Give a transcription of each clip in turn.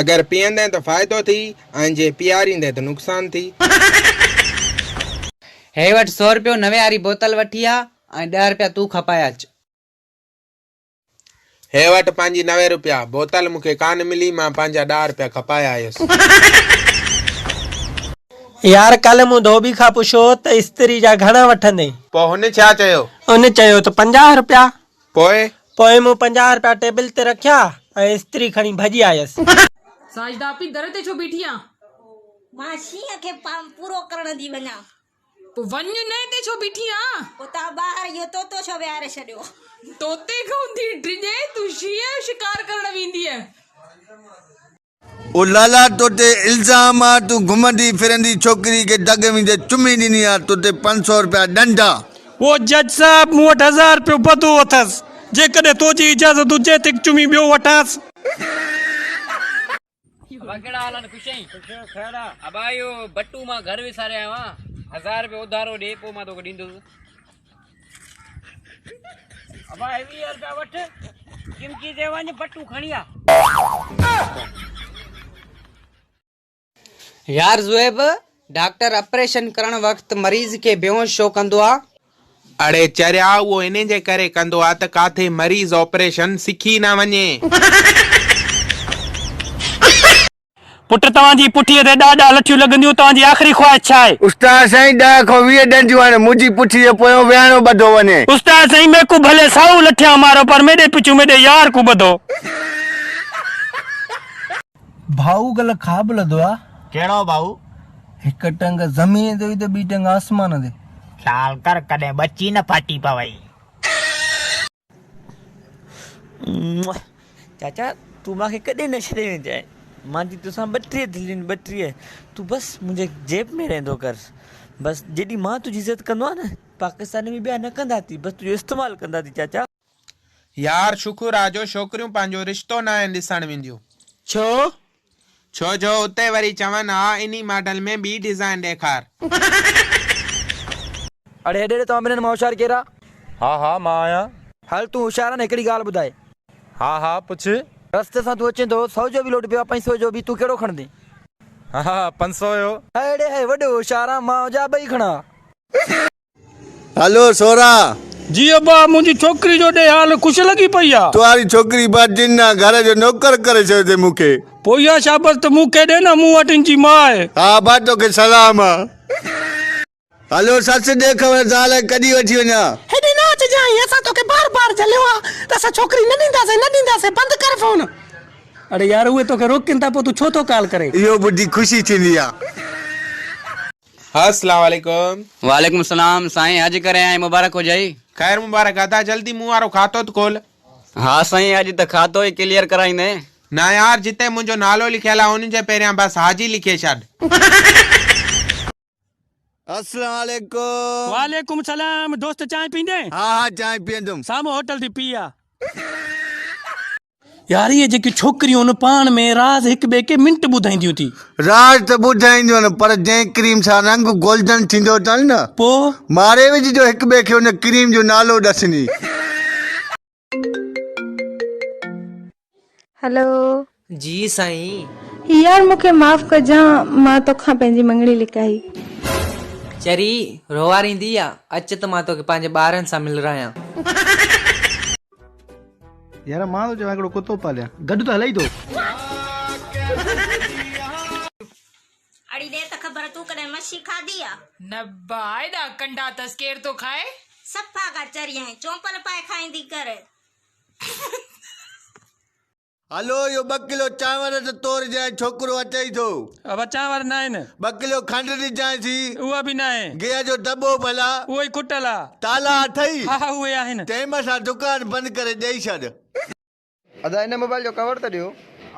اگر پيئندين ته فائدو ٿي ۽ جي پياريندين ته نقصان ٿي. هي وٺ سو رپيو نوي واري بوتل وٺي آ ۽ ڏهه رپيا تون کپائي اچ. هي وٺ پنهنجي نوي رپيا بوتل مون کي ڪانه ملي مان پنهنجا ڏهه رپيا کپائي آيس. يار ڪلهه مون ڌوٻي کان پڇيو ته استري جا گهڻا وٺندين؟ پوء هن ڇا چيو؟ هن چيو ته پنجاهه رپيا. پوء؟ پوء مون پنجاهه رپيا ٽيبل تي رکيا ۽ استري کڻي ڀڄي آيس. ساجده اپي در تي ڇو بيٺي آن؟ مان شينهن کي پام پورو ڪرڻ ٿي وڃان. پوء وڃ نه اتي ڇو بيٺي آن؟ اتان ٻاهر اهو طوطو ڇو ويهاري ڇڏيو؟ طوطي کان ٿي ڊڄين تون شينهن جو شڪار ڪرڻ ويندينء. او لالا تو تي الزام آ تون گهمندي ڦرندي ڇوڪري کي ڍڳ ويندي چمي ڏني آ تو تي پنج سو رپيا ڏنڊ آ. او جج صاحب مون وٽ هزار رپيو بدو اٿس جيڪڏهن تو جي اجازت هجي ته هڪ چمي ٻيو وٺانس. ابا ڪهڙا حال آهن خوش آهين خوش خير آ ابا اهو بٽو مان گهر وساري آيو آهيان هزار رپيو اوڌارو ڏي پوء مان توکي ڏيندس. ابا هي ويهه روپيا وٺ چمچي تي وڃ بٽو کڻي آ. يار زويب ڊاڪٽر اپريشن ڪرڻ وقت مريض کي بيهوش ڇو ڪندو آ. اڙي چريا اهو انهي جي ڪري ڪندو آ ته ڪاٿي مريض آپريشن سکي نه وڃي. پٽ توهان جي پٺيء تي ڏهه ڏهه لٺيون لڳنديون، توهان جي آخري خواهش ڇا آهي؟ استاد سائين ڏهه کان ويهه ڏنڊيون هڻ، منهنجي پٺيء جي پويان ويهڻو ٻڌو وڃي. استاد سائين ميڪو ڀلي سائو لٺيان مارو پر ميڏي پچون ميڏي يار ڪون ٻڌو. ڀائو گل خواب لڌو آ. ڪهڙو ڀائو؟ هڪ ٽنگ زمين تي هئي ته ٻي ٽنگ آسمان تي. خيال ڪر ڪڏهن ٻچي نه ڦاٽي پوي. چاچا تون مان کي ڪڏهن نه ڇڏي ويندينء، مان جي توسان ٻٽيهه دليون آهن ٻٽيهه، تون بس منهنجي جيب ۾ رهندو ڪر، بس جيڏي مان تنهنجي عزت ڪندو آهيان نه، پاڪستان ۾ ٻيا نه ڪندا ٿي، بس تنهنجو استعمال ڪندا ٿي چاچا. يار شڪر آ جو ڇوڪريون پنهنجو رشتو ناهن ڏسڻ وينديون. ڇو؟ ڇو جو اتي وري چون ها انهي ماڊل ۾ ٻي ڊزائين ڏيکار. اڙي هيڏي ڏي توهان ٻنهن مان هوشيار ڪير آ؟ ها ها مان آهيان. هل تون هوشيار آ نه هڪڙي ڳالهه ٻڌاء. ها ها پڇ. رستي سان تون اچين ٿو سو جو به لوٽ پيو آ پنج سو جو به تون ڪهڙو کڻندين؟ ها ها پنج سو جو. هيڙي هي وڏو هوشيار آ مان هجان ٻئي کڻان ها. هلو سورا! جي ابا! منهنجي ڇوڪري جو ڏي حال خوش لڳي پئي آ. توهاري ڇوڪري با جن آ. گهر جو نوڪر ڪري ڇڏيو اٿئي مون کي. پوء اها شابس ته مون کي ڏي نه مون وٽ ان جي ماء آهي. ها ابا توکي سلام آ. هلو سس ڏي خبر زال کي ڪڏهن وٺي وڃان. هيڏي نه اچجانء اسان توکي بار بار جهليو آ ته اسان ڇوڪري نه ڏينداسين نه ڏينداسين بند ڪر فون. اڙي يار اهي توکي روڪين ٿا پوء تون ڇو ٿو ڪال ڪرين. اهو ٻڌي خوشي ٿيندي آ. السلام عليڪم. وعليڪم السلام سائين اڄ ڪري آئين مبارڪ هجئي. خير مبارڪ ادا جلدي مون وارو کاتو ته کول. ها سائين اڄ ته کاتو ئي ڪليئر ڪرائيندين. نه يار جتي منهنجو نالو لکيل آ ان جي پهريان بس حاجي لکي ڇڏ. السلام عليڪم. وعليڪم السلام دوست چانهه پيندين. ها ها چانهه پيئندم. سامهون هوٽل ٿي پيئي آ. ياري جيڪي ڇوڪريون پاڻ ۾ راز هڪ ٻئي کي منٽ ٻڌائينديون ٿي راز ته ٻڌائينديون پر جنهن ڪريم سان رنگ گولڊن ٿيندو اٿن نه پو ماري وجهجو هڪ ٻئي کي ان ڪريم جو نالو ڏسني هلو جي سائين يار مون کي معاف ڪجان مان توکان پنهنجي مڱڻي لڪائي. چري روئاريندي آ اچ ته مان توکي پنهنجي ٻارن سان ملرايان. يار مان ٿو چوان هڪڙو ڪتو پاليان گڏ ته هلئي ٿو. اڙي ڏي ته خبر تون ڪڏهن مڇي کاڌي آ. نه با ايڏا ڪنڊا تس ڪير ٿو کائي. صفا ڪر چريائين چونپل پائي کائيندي ڪر. هلو اهو ٻه ڪلو چانور ته تورجانء ۽ ڇوڪرو اچئي ٿو. اهو چانور ناهن. ٻه ڪلو کنڊ ڏجانء ٿي. اها به ناهي. گيهه جو دٻو ڀلا. اهو ئي ڪٽل آ. تالا اٿئي؟ ها ها اهي آهن. تنهن مٿان دڪان بند ڪري ڏئي ڇڏ. ادا هن موبائل جو ڪور ته ڏيو.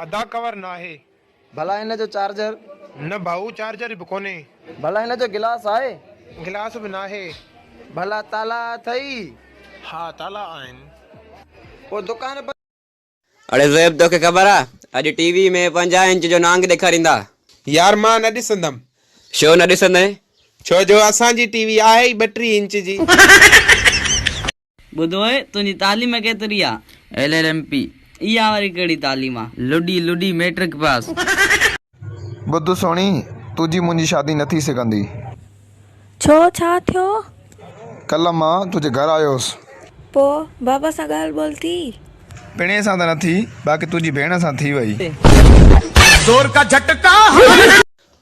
ادا ڪور ناهي. ڀلا هن جو چارجر. نه ڀائو چارجر به ڪونهي. ڀلا هن جو گلاس آهي. گلاس به ناهي. ڀلا تالا اٿئي؟ ها تالا آهن. پوء دڪان بند. اڙي زويب توکي خبر آ اڄ ٽي وي ۾ پنجاهه انچ جو نانگ ڏيکاريندا. يار مان نه ڏسندم. شو نه ڏسندين؟ ڇو جو اسان جي ٽي وي آهي ئي ٻٽيهه انچ جي. ٻڌو اي تنهنجي تعليم ڪيتري آ. ايل ايل ايم پي. اها وري ڪهڙي تعليم آ. لڏي لڏي ميٽرڪ پاس. ٻڌ سهڻي، تنهنجي منهنجي شادي نه ٿي سگهندي. ڇو ڇا ٿيو؟ ڪلهه مان تنهنجي گهر آيو هوس. پوء بابا سان ڳالهه ٻولهه ٿي؟ پڻهي سان ته نه ٿي، باقي تنهنجي ڀيڻ سان ٿي وئي.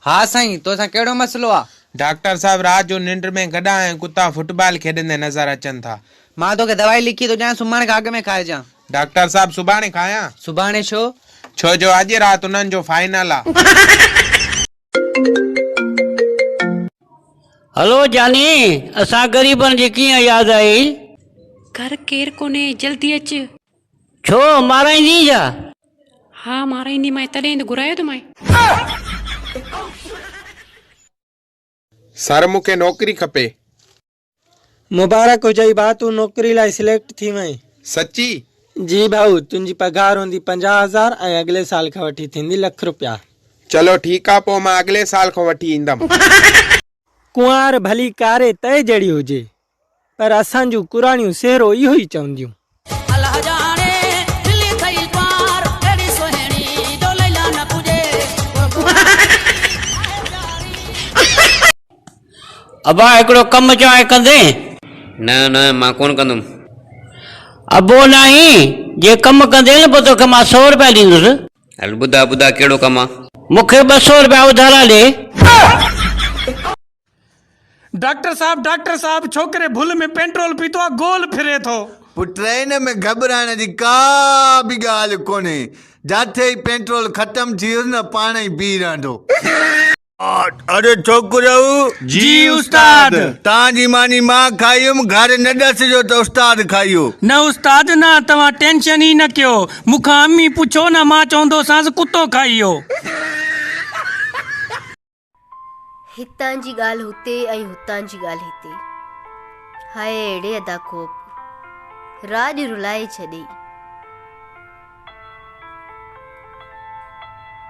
ها سائين، تو سان ڪهڙو مسئلو آ؟ ڊاڪٽر صاحب، رات جو ننڊ ۾ گڏها ۽ ڪتا فٽبال کيڏندي نظر اچن ٿا. مان توکي دوائي لکي ٿو ڏيان، سمهڻ کان اڳ ۾ کائجان. ڊاڪٽر صاحب سڀاڻي کانئان؟ سڀاڻي ڇو؟ ڇو جو اڄ رات انهن جو فائنل آ. هلو جاني اسان غريبن جي ڪيئن ياد آئي. گهر ڪير ڪونهي جلدي اچ. ڇو مارائيندين ڇا؟ ها مارائيندي مانء تڏهن ئي ته گهرايو ٿو مانء. سر مون کي نوڪري کپي. مبارڪ هجئي ڀاء تون نوڪري لاء سليڪٽ ٿي وئين. سچي؟ جي ڀائو تنهنجي پگهار هوندي پنجاهه هزار ۽ اڳلي سال کان وٺي ٿيندي لک رپيا. چلو ٺيڪ آ پوء مان اڳلي سال کان وٺي ايندم. ڪنوار ڀلي ڪاري تئي جهڙي هجي پر اسان جون ڪراڻيون سهرو اهو ئي چونديون. ابا هڪڙو ڪم چوانء ڪندين؟ نه نه مان ڪونه ڪندم. ابو ناهين جي ڪم ڪندين پوء توکي مان سؤ روپيا ڏيندس. هل ٻڌاء ٻڌاء ڪهڙو ڪم آ. مونکي ٻه سؤ روپيا اڌارا ڏي. ڊاڪٽر صاحب ڊاڪٽر صاحب ڇوڪري ڀل ۾ پينٽرول پيتو آ گول ڦري ٿو. پٽ ان ۾ گهٻرائڻ جي ڪا به ڳالهه ڪونهي جاٿي ئي پينٽرول ختم ٿي ويس نه پاڻ ئي بيهي رهندو. اڙي ڇوڪريو! جي استاد! تان جي ماني مان کائي هيم گهر نه ڏسجو ته استاد کائيو. نه استاد نه توهان ٽينشن ئي نه ڪيو مون کان امي پڇو نه مان چوندوسانس ڪتو کائيو. هتان جي ڳالهه هتي ۽ هتان جي ڳالهه هتي. هاء اهڙي ادا کوپ راڄ رلائي ڇڏيئي.